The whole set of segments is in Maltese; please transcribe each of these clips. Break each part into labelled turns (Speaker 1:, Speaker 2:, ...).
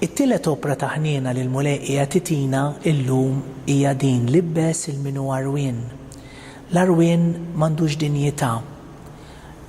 Speaker 1: It-tielet opra ta' ħniena li l-Mulej qiegħed itina llum hija din l-ibbes il-min hu għarwien. L-għarwien m'għandux dinjità.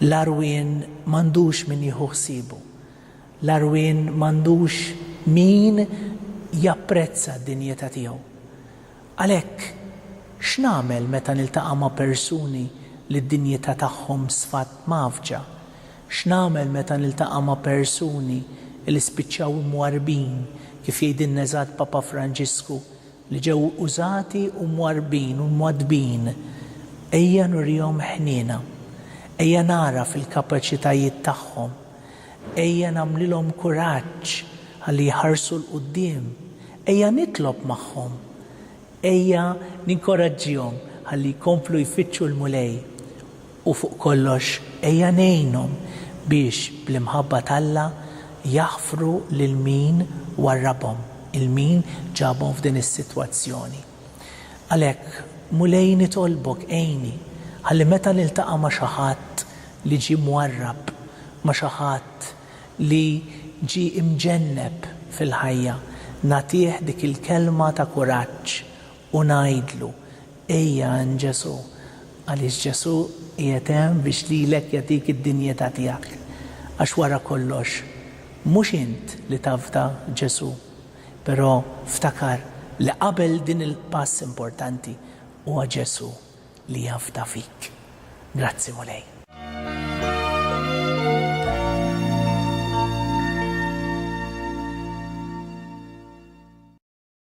Speaker 1: L-għarwien m'għandux min jieħu ħsiebu. L-għarwien m'għandux min japprezza d-dinjità tiegħu. Għalhekk, x'nagħmel meta niltaqa' ma' persuni li d-dinjità tagħhom sfat mgħaffġa? X'nagħmel meta niltaqa' ma' persuni li spiċċaw imwarrbin, kif jgħidilna eżatt Papa Franġisku li ġew użati u mwarrbin u mwaddbin, ejja nurihom ħniena, ejja nagħraf il-kapaċitajiet tagħhom, ejja nagħmlilhom kuraġġ ħalli jħarsu 'l quddiem, ejja nitlob magħhom, ejja ninkoraġġihom ħalli jkomplu jfittxu l-Mulej U fuq kollox, ejja ngħinhom biex bl-imħabba t'Alla jaħfru lil min warrabhom, il-min ġabhom f'din is-sitwazzjoni. Għalhekk, Mulej nitolbok għinni ħalli meta niltaqa' ma' xi ħadd li ġie mwarrab, ma' xi ħadd li ġie imġenneb fil-ħajja, nagħtih dik il-kelma ta' kuraġġ U ngħidlu, Ejja għand Ġesù, għaliex Ġesù qiegħed hemm biex lilek jagħtik id-dinjità tiegħek. Għax wara kollox, mhux int li tafda Ġesù. Però ftakar li qabel din il-pass importanti, huwa Ġesù li jafda fik. Grazzi Mulej.